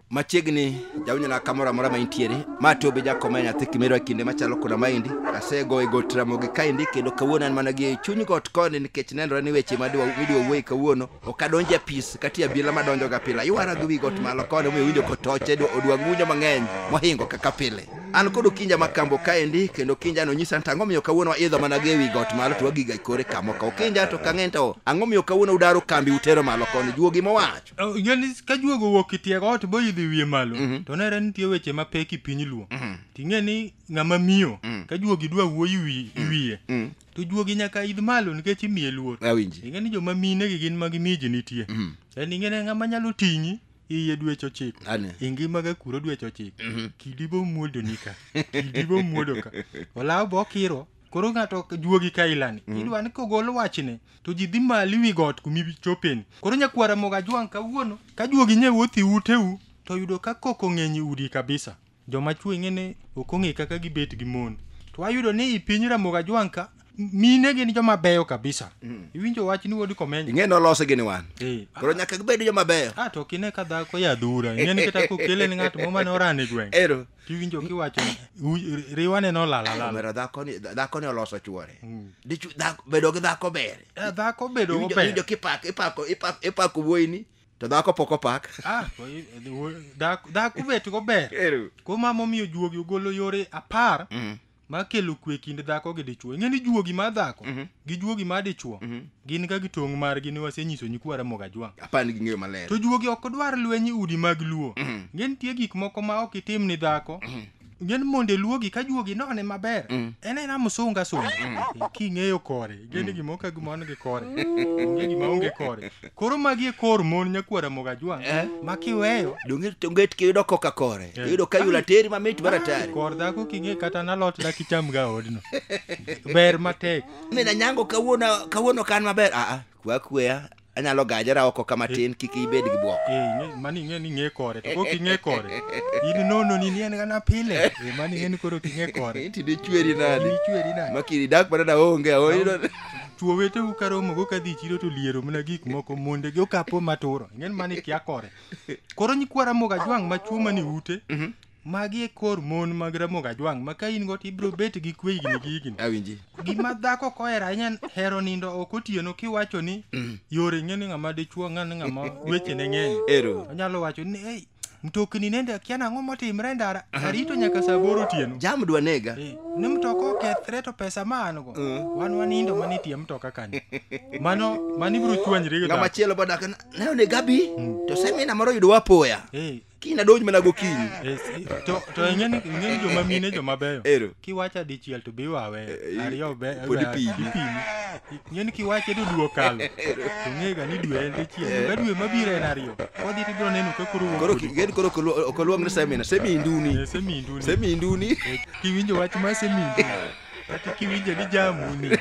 machiegni jawinyola kamoro amora ma intiere ma to be jakoma e nyathi kimero e kinde machalo koda maendi asegoyo e got ramogi kaendi kendo kawuono an mana gi chuny got koni nikech nenore ni weche madwa- midwa wuoye kawuono ok adonj e pis kati abiela madonjo ga pile aywara gi wi got malo koni omiyo winjo kotoche dwa- odwa ng'unyo mang'eny mohingo kaka pile an kod okinja ma kambo kaendi kendo okinja no nyisa nta ang'omiyo kawuono waidho mana gi e wi got malo to wagiga e kore kamo ka okinja to kang'eny to ang'omiyo kawuono udaro kambi utero malo koni juogi mowacho Oh, ing'eni ka juogo owuok itiego ot boidhi wiye malo Mhm. to nere nitie weche mapek i piny luo Mhm. ting'e ni ng'ama miyo Mhm. ka juogi dwa wuoyi wi- wiye Mhm. to juogi nyaka idh malo nikech imiye luor awinji ing'e ni joma mine gi gin magi miji nitie Mhm. en ing'e ni ng'ama nyalo ting'i iye dweche ochiko Ane. ingima ga kuro dweche ochiko kidi bo muodo ni ka kidi bo muodo ka olaw bo kiro koro ng'ato ok juogi ka ilani idwa ni kogol wachne to ji dhi mali wi got kumi chopeni koro nyakwara moga jwang' kawuono ka juogi nye wuothi uteu to yudo ka koko ng'eny i udi kabisa Joma chwo ing'e ni ok ong'e kaka gibet gi mon. To wayudo ni i piny Ramogi Ajwang' ka mine gin joma beyo kabisa. Iwinjo wach ni wuod Komenyo? ing'e nolose gini wan Eh, koro nyaka gibed joma beyo Ah, to kine ka dhako ya dhura. Ing'e ni kata kokele ni ng'at mo mane orane gweng'. ero Tiwinjo kiwacho ni, "Uy- riwane nolala lala. omera dhakoni dhakoni oloso chuore Dichu- dhako- bedo gi dhako ber Eh, Dhako bedo Iwinjo- ober. iwinjo kipako ipako ipako ipako wuoyini to dhako pok opak ah, dhaku bet go ber kuom ma momiyo juogi ogolo yore apar mm. ma kelo kwe kind dhako gi dichwo ing'e ni juogi ma dhako mm -hmm. gi juogi ma dichwo mm -hmm. gin ka gitong' margi ni wasenyiso nyikwa ramoga jwang' apani ging'eyo maler to juogi ok dwar lweny udi mag luo mm -hmm. ng'e nitie gik moko ma ok itim ni dhako mm -hmm. gin monde luogi ka juogi none maber mm. en en amusunga sunga mm. eh, king'eyo kore gin mm. gimo ka gimo an gi kore onge gima onge kore koro magi e kor mon nyakwara moga jwang eh? ma kiweyo donge tonge kiyudo koka kore eh. iyudo ka yula teri mamit maratari kor dhako king'e kata nalot da kicham ga odno ber matek mina nyango kawuono kawuono kan maber aa ah, ah. kwa kweya anyalo gajera oko kama tin kik ibed gi bwok Eh, mani ing'e ni ing'e kore to kok ing'e kore in nono ni nien gana pile Eh, mani ing'e ni koro ok ing'e kore Iti dichweri nadi? Ini chweri nadi makiri dak mana da onge aoyudo chuo wetewu ka romogo ka dhi e chiro to liero mana gik moko monde gi okapo maturo ing'e ni mani kia kore koro nyikwara moga jwang' ma chuo mani ute Magi e kor mon mag Ramogi Ajwang' ma ka in go to ibiro bet gi kwe higni gi higni. Awinji. Gima dhako ok ohero ahinya en hero nindo ok otieno kiwacho ni yore ing'e ni ng'ama dichuo ng'an ni ng'ama wechene ng'eny. Ero. Onyalo wacho ni hey, mtokni nende akia nang'o motimre e ndara arito nyaka saa aboro otieno. Jam dwa nega. Eh, Ni mtoka okethre to pesa ma an go wan wanindo mana e tie mtoka kanyo. Mano mano ibiro chwanyri gi Ng'ama dhako. chielo bodak ne onega bi to semina moro yudowa apoya. Eh, kiny nadonj mana gokinyi Yes, i- to to ing'e ni ing'e ni joma mine joma beyo Ero. kiwacha dichiel to be iwawe Eh, i- ariyo be pod be- ipimi. ipimi. ing'e ni kiwache to dwe okalo to ng'ega ni dwe en dichiel to ka dwe mabiro en ariyo kodhi to ibiro neno ka koro wuok koro kodi. ki- gen koro okoluong ni semina seminduni Eh, seminduni seminduni Eh, kiwinjo wach ma seminduni kata kiwinjo ni jamuni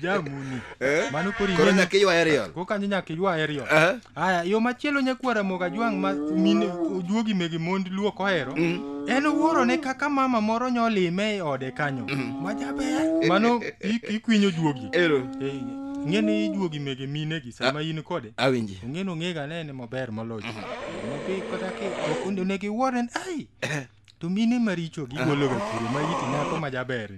jamuni Eh? mano koro Koro ing'e ni- nyaka iywaye riol. koro kanyo nyaka iywaye riol Eh? haya yo machielo nyakuo ramogi ajwang' ma mine ojuogi mege mond luo kohero en owuoro ne kaka mama moro nyolime e ode kanyo ma jaber mano i- ikwinyo juogi Ero. Eh, ing'e ni ijuogi mege minegi sama in kode Awinji. ong'e nong'ega nene maber moloyo Nodhi kata ki- ok onego iwuore ni ai to mine maricho gigologa kure ma iti nyako ma jaber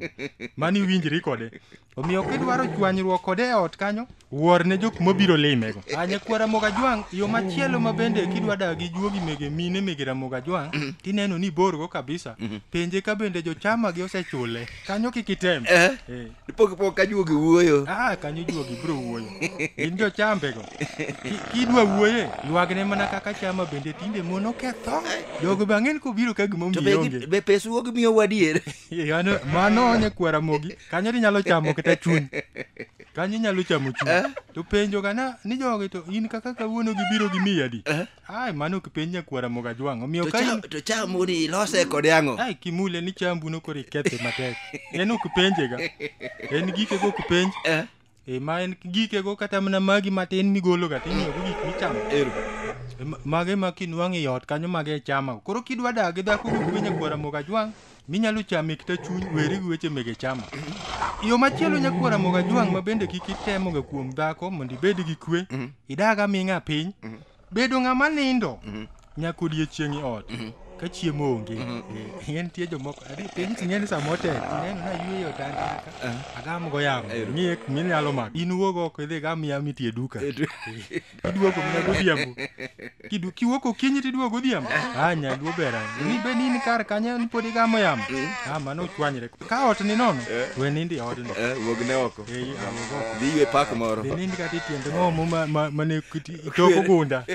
mani iwinjri kode omiyo kidwaro chwanyruok kode e ot kanyo wuor ne jok mobiro limego anye kwa ramoga jwang' yo machielo ma bende kidwa dak gi juogi mege mine mege ramoga jwang' tineno ni borgo kabisa penje ka bende jochama gi osechule kanyo kik item Eh. Eh. Pok pok ka juogi wuoyo. Ah, kanyo juogi bro wuoyo. Gin jo chambe go. Ki- Kidwa wuoye, yuagne mana kaka chama bende tinde mon oketho. Jogo be ang'en kobiro ka gima To be gi- omionge. be pes wuog miyo wadier. Yano, mano onye kwara mogi. Kanyo ni nyalo chamo kata chuny. Kanyo inyalo chamo chuny. To penjo gana ni jogi to in kaka kawuono gibiro gi miya di. Ai, mano kipenj nyakwara moga jwang'. Omiyo To ka cha- in... to chamu ni ilose kod yang'o Ai, kimule ni chambu no kore kethe matek. En ok penje ga. En gike go kipenj. Eh, E ma en gike go kata mana magi matin migolo ga tinyo go gik michamo. ero E, ma- Mage ma kinwang'e yot kanyo mage chama. Koro kidwa dagi dhako go penj nyakwara moga jwang'. Minyalo chame kita chuny weri gi weche mege chama. Yo machielo nyakwara moga jwang' ma bende kik itemoga kuom dhako mondo ibed gi kwe, idaga ming'a piny. Bedo ng'ama nindo nyaka odiechieng' e ot ka chiemo onge. Eh, En tie jomoko adi piny ting'eni sama otek ineno na yweyo otanda ka agam go yamo ng'iye minyalo mako. In wuog oko idhi gam yamo itie duka. iduogo mna godhiambo Kidu- kiwuok okinyi to iduogo godhiambo a nyaluo bera ni be ni in kar kanyo ni pod igamo yamo a mano ochwanyre ka ot ni nono we nindi e odno Eh, wuog ne oko Ei, awuog oko. dhi ywe pak moro be nindi kata itiende ng'omo ma- ma- mane kiti- itoko gunda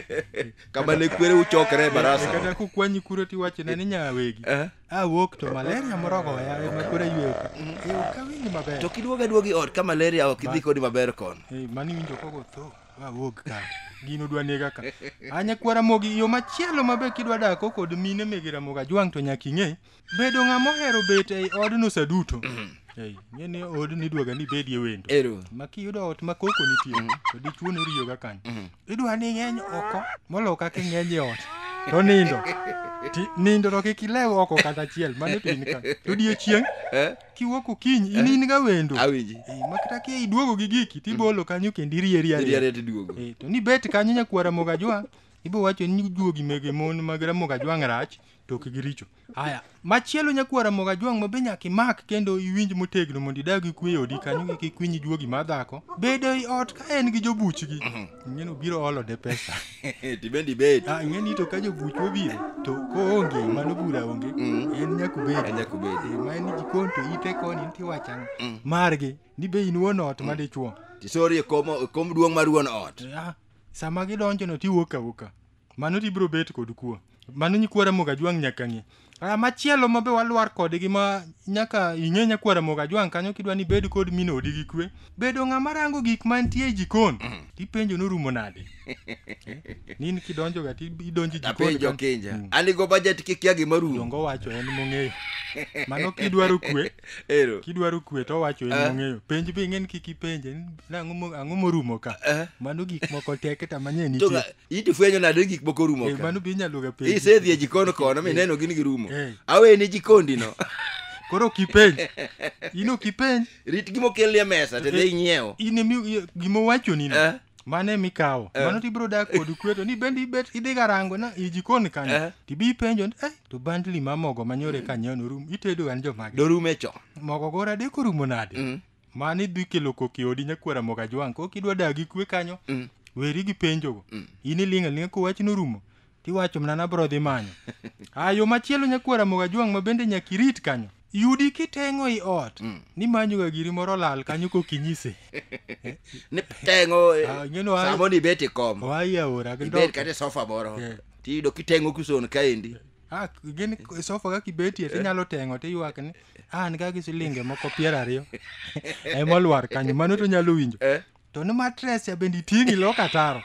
kama ne kwere uchokre e barasa kata kokwanyi kuro tiwachone ni nyawegi Eh? awuok to malaria morogo ya ema koro ayweyo ka Eh, ok awinji maber to kiduogo aduogi ot ka malaria ok idhi kodi maber kono Eh, mani winjo koko tho Awuog ka. Gino dwa nega ka. Anya kwara mogi yo machielo ma be kidwa dako kod mine mege Ramogi Ajwang' to nyaka ing'e bedo ng'ama ohero bet ei odno sa duto. Ei, ing'e ni odni idwaga ni ibedie wendo. Ero. Ma kiyudo ot ma koko nitie to dichwo ni oriyoga kanyo. Idwa ni ing'eny oko molo kaka ing'eny e ot. To nindo. Ti- Nindo to kik ilew oko kata achiel. Mano to in ka. To odiechieng' Eh? kiwuok okinyi in in ga wendo awinji Eh, ma kata kia iduogo gi giki tibolo kanyo kendo irieri iriere arieri tiduogo Eh, to ni bet kanyo nyakuar ramoga jwang' ibo wacho ni juogi mege mon mag ramoga jwang' rach to ok giricho haya machielo nyakuar ramoga jwang' ma be nyaka imak kendo iwinj motegno mondo idag gi kwe e odi kanyo kik ikwiny juogi ma dhako bedo i ot ka en gi jobuchgi ng'eno biro olo ne pesa tibendi bed ah, ng'eni to ka jobuch obiro to koonge mano bura onge mm. en nyakubedi nyakubedi eh, ma en jikon to ite koni nti wachang mm. margi ni be in wuon ot mm. madichuo tisorie kom duong' mar wuon ot ah, sama gidonjono tiwuok awuoka mano tibiro bet kod kuo mano nyikwa ramoga jwang nyaka ng'e Ah, machielo ma be walwar kodgi ma nyaka ing'e nyakwa ramoga jwang kanyo kidwa ni bed kod min odi gi kwe bedo ng'ama rango gik mantie e jikon tipenjo norumo nade nini kidonjoga ti- idonjo e jikon apenjo kan- kinja Mm. an igo bajet kikia gima rumo dongo wacho en mong'eyo mano kidwaro kwe ero kidwaro kwe to wacho en Eh. mong'eyo penj be ing'e ni kik ipenje ni nang'o mo- ang'o morumo ka Eh. mano gik moko tek ta manye to nitie ga- in to fwenyo nade ni gik moko rumo Eh, ka mano be inyalo ga penjo. isedhi e jikon kono mineno gin girumo Eh. aweni jikondino Koro ok ipenj. In ok ipenj. rit gima okelni e mesa to dhi inyiewo In emi gima owachoni no. Eh. Mane mikawo. Eh. Mano tibiro dak kod kweto ni bende ibet idhi garango na i jikon Eh. kanyo. Tibi ipenjo ni eh to bandli ma mogo manyore kanyo no rum itedo an jomage. dorume cho Mogo gora de korumo nade? Mm. mani dhi kelo kok e odi nyakwar Ramogi Ajwang' kok idwa dak gi kwe kanyo mm. weri gi penjogo mm. in iling' aling'a ko wachno orumo tiwacho mana nabro dhi manyo a yo machielo nyakwar Ramogi Ajwang' ma bende nyaka irit kanyo yudi kiteng'o i ot mm. ni manyoga giri moro lal kanyo kok inyise ni teng'o eh, ah, samo ni bet i kom ibet kata sofa moro yeah. tiyudo kiteng'o kuson kaendi Ah, gin sofa kaka ibetie tinyalo teng'o tiywak ni ah, an kaka silinge moko piero ariyo ema olwar kanyo mano to nyalo winjo Eh? to ni matres ya bende iting'i lok ataro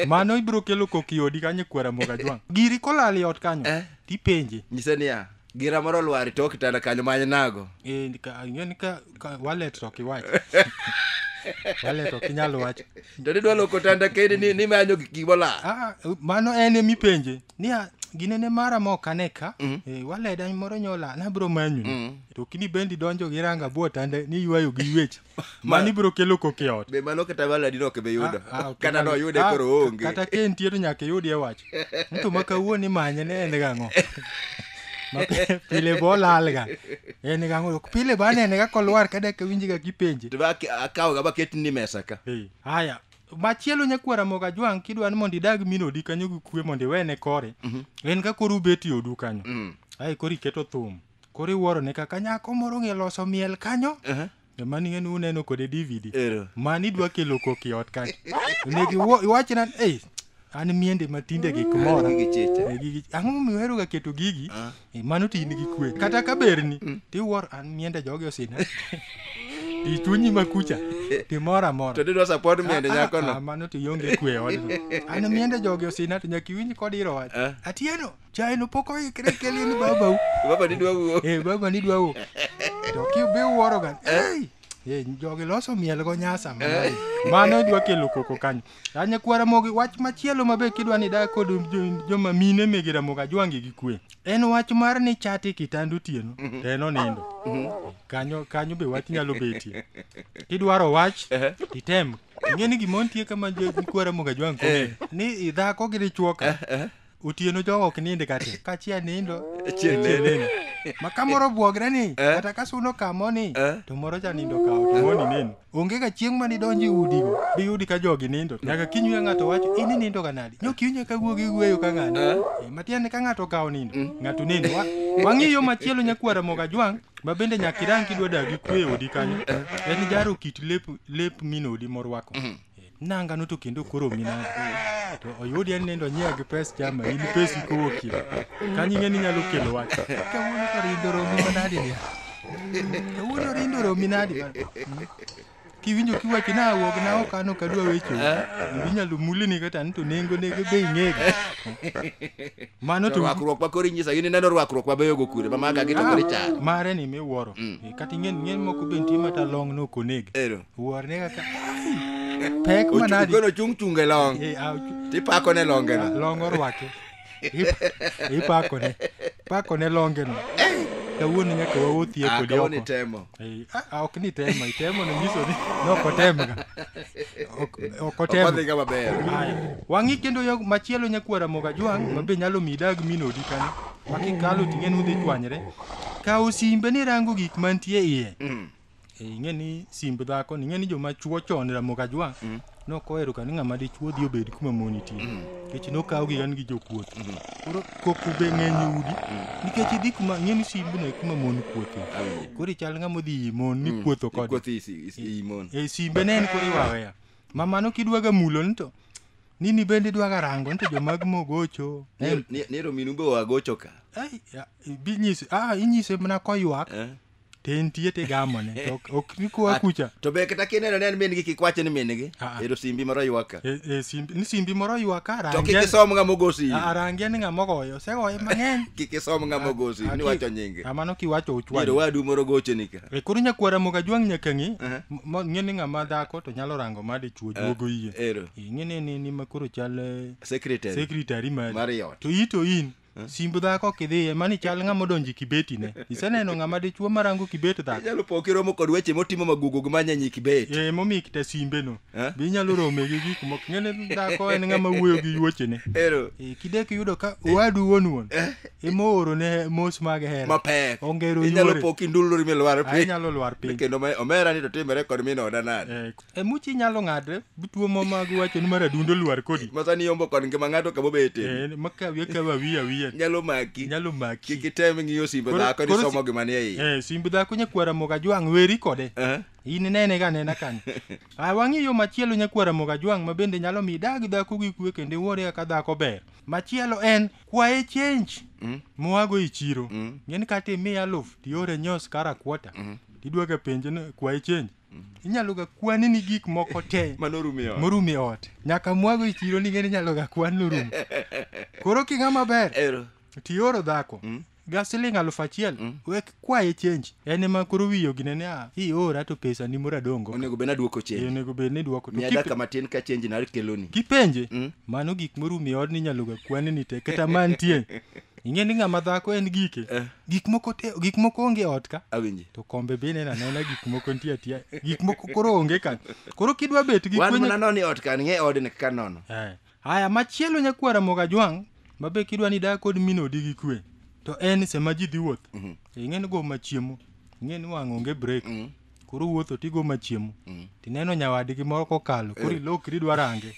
mano ibiro kelo koki odi kanyo kwera moga jwang' giri kolal i ot kanyo Eh? tipenje nyise niya gira moro olwar e tok kitanda kanyo many nago Eh, ka- ing'e ni ka ka- wallet to kiwach wallet to kinyal wach to nidwa loko tanda kendi ni, ni manyo gik gimola ah, mano en emipenje niya ginene mara mok ane ka mm. e, waleda moro nyola nabro manyu mm. to kini bendi donjo gi ranga buo tande ni ywayo gi ywech ma ni bro kelo koke ot be mano kata waladi no ke be yudo ah, ah, okay, kata no yude ah, koro onge kata ke ntie to nyaka yudi e wach nto ma kawuon imanye ne en gang'o pile bo lalga en gang'o pile ba nene ga kolwar kada ke winji ga kipenje to ba akawo ga ba ketni mesa ka haya hey. machielo nyakwar amoga jwang kidwa ni mondo idag min odi kanyo gi kwe mondo iwene kore en ka koro ubet e odu kanyo Mm. ae koro iketo thum koro iwuoro ne kaka nyako moro ng'e loso miel kanyo Aha. ema ni ng'eni uneno kode dvd Ero. mani idwa kelo koki ot kanyo onego iwo- iwachna ei an miende ma tinde gik mora Gigi chiche. Eh, gigi- ang'o momiyo oheroga keto gigi Eh, mano ti in gi kwe kata ka berni tiwuor an miende jogi osina ti chunyi ma kucha timora mora To didwa support miende Ah, ah, nyakono. ah, mano to ionge kwe odno an miende jogi osina to nyaka iwinj kod iro wach Eh. atieno chaeno pok oikre kelie ni babau Baba didwa wuo. Eh, baba ni dwa wuok to kibe wuoroga "Ei, eh, jogi loso miel go nyasa mano- mano dwa kelo koko kanyo A nyakwar Ramogi, wach machielo ma be kidwa ni idag kod jo- joma mine mege Ramogi ajwangi gi kwe. En wach mar ni chati kitanda otieno to en onindo. Kanyo kanyo be wach nyalo betie. Kidwaro wach titem. Ing'e ni gima nitie kama jo- nyakwar Ramogi ajwangi kong'e ni dhako gi dichwoka otieno jogo ok nind ga te ka chieng' nindo Chieng' chieng' nene. neno. ma ka moro obwogre ni Eh. kata ka suno kamo ni Eh. to moro cha nindo kawo to moni neno onge ga chieng' ma nidonji udigo diyudi ka jogi nindo nyaka kinyuya ng'ato wacho ini nindo ga nadi nyokiwinja ka wuogi wueyo ka ng'ani Eh. Eh, matiende ka ng'ato okawo nindo ng'ato nindo Wa- wang'i yo machielo nyakwara moga jwang' ma bende nyaka irang kidwa dagi kwe e odi kanyo en jaro kit lep lep minodi morwako Eh, nanga no to kendo koro mina to oyudi en nindo nyiewo gi pes chama in pesi kowuokie kanyo ing'e ni nyalo kelo wach kawuono to rindo romi manadi dia kawuono rindo romi nadi kiwinjo kiwacho na awuog na ok an ok adwa wecho inyalo mulini kata ni to nengo nege be ing'ego mano to rwakruok ma koro inyisa in ineno rwakruok mabeyo go kure mamaga gi to koro icharo mare ni miwuoro kata ing'e ni ng'eny moko be nitie mata long no ok oneg ero wuorne kaka pek manadi Ogono chung' chung' e long. Eh, ah, ok. Tipako ne longe no. long orwake Ip- ipakone pakone longeno kawuono nyaka wawuothie Ah, kodi kawuono oko itemo. Eh, ah, ah, ok ni tema itemo no nyiso ni ne ok otemga Ok- ok Ok otem odhi ga maber. Aya. wang'i kendo yo machielo nyakwara moga jwang' ma be nyalo mi idag mi nodi kanyo ma kikalo ting'e nudhi chwanyre kawo simbe ni rango gik mantie iye Eh, ing'e ni simb dhako ni ing'e ni joma chuo chon ramogi ajwang' mm. nok ohero ka ni ng'ama dichuo dhi obed kuma mon nitie mm. nikech nokawgi an gi jokuoth mm. koro koko be ng'eny udi nikech idhi kuma ing'e ni simb ne kuma mon kuothe koro ichal ng'ama odhi imon ni kuotho kode eh, simbe ne en koro iwaweya ma mano kidwaga mulo ni to nini bende idwaga rango ni to jomag mogocho nero minu be wagocho ka inyise ah, mana koywak eh. te nitie tigamone to ok- ok nikoa kucha to be kata kineno ne en min gi kik wache ni min gi Ah, ah. ero simbi moro ywak ka E- e simbi- ni simbi moro ywak ka to kik isom nga mogosi arangia ni ng'ama ogoyo osegoye mang'eny kik isom nga mogosi Ah, ni ki- wacho nyinge ah, mano kiwacho dier uchwany wadu moro gocheni ka E, koro nyakwara moga jwang' nyaka ng'i Aha. m- mo- ng'e ni ng'ama dhako to nyalo rango ma dichuo juogo iye ero E, ng'e ni ni- ni ma koro chal eh, secretary secretary mari mar yot to i to in simb dhako kidhiye mani chal ng'ama odonjo e kibetine iseneno ng'ama dichuo marango kibet dhako inyalo po kiromo kod weche motimo magugugo ma nyanyi kibet e momiyo kita simbeno Eh? be inyalo rome gi gik moko ng'ene dhako en ng'ama wuoyo gi yuochene ero e, kidek iyudo ka owadu wuon wuon emoorone mos mag hera mapek Ongero inyalo yuore. po kindulori milwar Ae nyalo lwar piny kendo ma- omera ni to timore kod min oda nade Eh, e muchi inyalo ng'ade bituo mo mag wacho ni mar adundo lwar kodi masani yombo kod ngima ng'ato kama obete Eh, makawi akawi awiya awiya nyalo maki nyalo maki kik item ng'iyo simbe Koro- dhako ni koro somo si- gima ni e iye eh, simb dhako nyakwara moga jwang' weri kode Aha. in inene ga nena kanyo a wang'i yo machielo nyakwara moga jwang' ma bende nyalo mi dag dhako gi kwe kendo iwuore kaka dhako ber machielo en kwaye change Mm. moago e chiro Mm. ng'eni kata imiya aluf tiore nyos kara kwota tidwoke penje ni kwaye change inyalo ga kwani ni gik moko te manorumiyo morum e ot nyaka mwago e chiro ning'eni inyalo ga kwan norum koro king'a maber ero tioro dhako Mm. ga siling aluf achiel Mm. wek kwaye chenji en ema koro wiyo ginene a iora to pesa ni mora dongo onego bed nadwoko Eh, chenji onego bed ni dwoko to miya kipe- daka matin ka chenji nakeloni kipenje Mm. mano gik morum e odni inyalo ga kwani ni te kata mantie ing'e ni ng'ama dhako en gike Eh. gik moko te- gik moko onge e ot ka awinji to kombe be nena nena gik moko nitie atiya gik moko koro onge ka koro kidwa bet gi wan kwenye- mana noni ot kan ng'e odni kaka nono Eh. haya machielo nyakwara moga jwang' mabe kidwa ni dak kod min odi gi kwe to en sema ji dhi wuoth ing'e ni go machiemo ing'e ni wang' onge break koro wuotho tigo machiemo mm. tineno nyawadgi moro kokalo koro eh. ilokri idwa range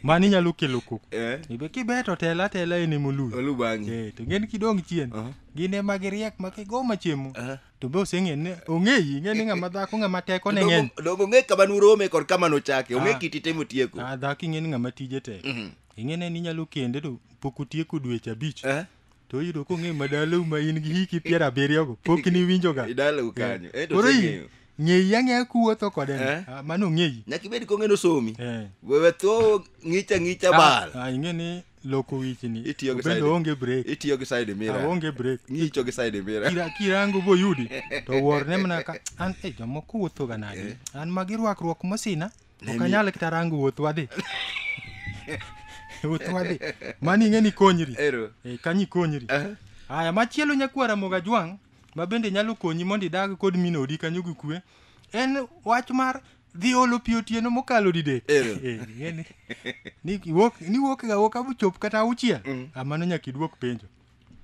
mani inyalo kelo koko eh. ibe kibeto tela tela ene moluyo eh, to ng'en kidong' chien uh-huh. gin ema giriek ma kigo machiemo uh-huh. to be oseng'e ni ong'eyi ing'e ni ng'ama dhako ng'ama teko ne ng'eny dongo ong'e kama nurome kod kama nochake ong'e ah. kiti temo tieko ah, dhako ing'e ni ng'ama tije tek mm-hmm. ing'e ne ni inyalo kende to pok otieko dweche abich to oyudo kong'eyo madalau ma in gi hiki piero abiriyogo pok niwinjoga idalau kanyo eh, to koro i- oseng'eyo. ng'eyi ang'eya kuwuotho kode ni. Eh? Ah, mano ng'eyi nyaka ibed kong'eno somi Eh. wewe tho ng'icha ng'icha Ah, bal ah, ing'e ni loko wichni Itiyo gi obende side- onge brek itiyo gi side mirror aonge brek ng'icho gi side mirror Kira- kirango boyudi to worne mana ka an e jomoko wuothoga nadi an magi rwakruok mosina Let Ok me- anyal kata rango wuoth wadhi. Wuoth wadhi. Mani ing'e ni konyri. Ero. Eh, kanyi konyri. Eh. Aya, machielo nyakwara moga jwang' ma bende nyalo konyi mondo idag kod min odi kanyo gi kwe en wach mar dhi olo pi otieno mokalo didek Ero. Eh, ing'e ni- ni iwuok- ni iwuok ga wuok abuchop kata auchiel Ah, mano nyaka iduok penjo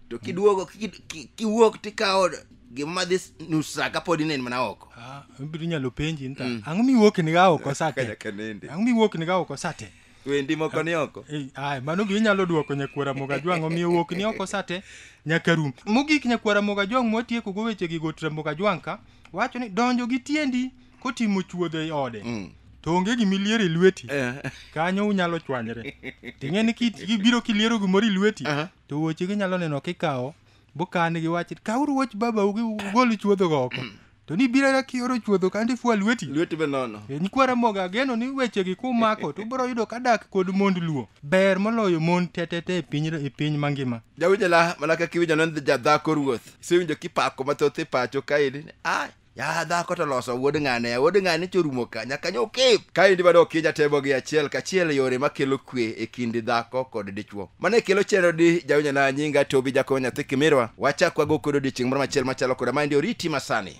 to kiduogo ki- ki- kiwuok tikawo gima madhi s- nus sa kapod inen mana oko Ah, ibiro inyalo penji nta ang'o miwuok niga oko sate Kanyaka nende. ang'o miwuok niga oko sate wendi moko ni oko Ei, ae mano be inyalo dwoko nyakwara mogajwang' omiyo wuok ni oko sate nyaka rum mogik nyakwara mogajwang' mwatieko go weche gi gotra mogajwang' ka wacho ni donjo gi tiendi kotimo chuodho e ode Mm. to onge gima iliero e lweti Eh. kanyo unyalo chwanyre ting'e ni kit- kibiro kiliero gimoro e lweti Aha. to wuoche gi nyalo neno kikawo bukan gi wach kawuru wuoch babau gi ugol chuodho go oko to ni biro ka kioro chuodho kandi fua lweti lweti be nono E, nyikwa ramoga ageno ni wechegi kumako to ubiro yudo ka dak kod mond luo ber moloyo mon tetete e piny, e piny mangima jawinjala mana kaka iwinjo ne jadhako ruoth isewinjo kipako mathoth e pacho kaeri ni ai ya dhako to loso wuod ng'ane ya wuod ng'ane chorumo ka nyaka nyokip kaendi bado oki jatebo gi achiel kachiel yore makelo kwe e kind dhako kod dichwo mane kelo chenro di jawinyo na nyinga tobi jakobo nyathi kimirwa wachak wago kod odiechieng' moro machiel machalo koda maendi oriti masani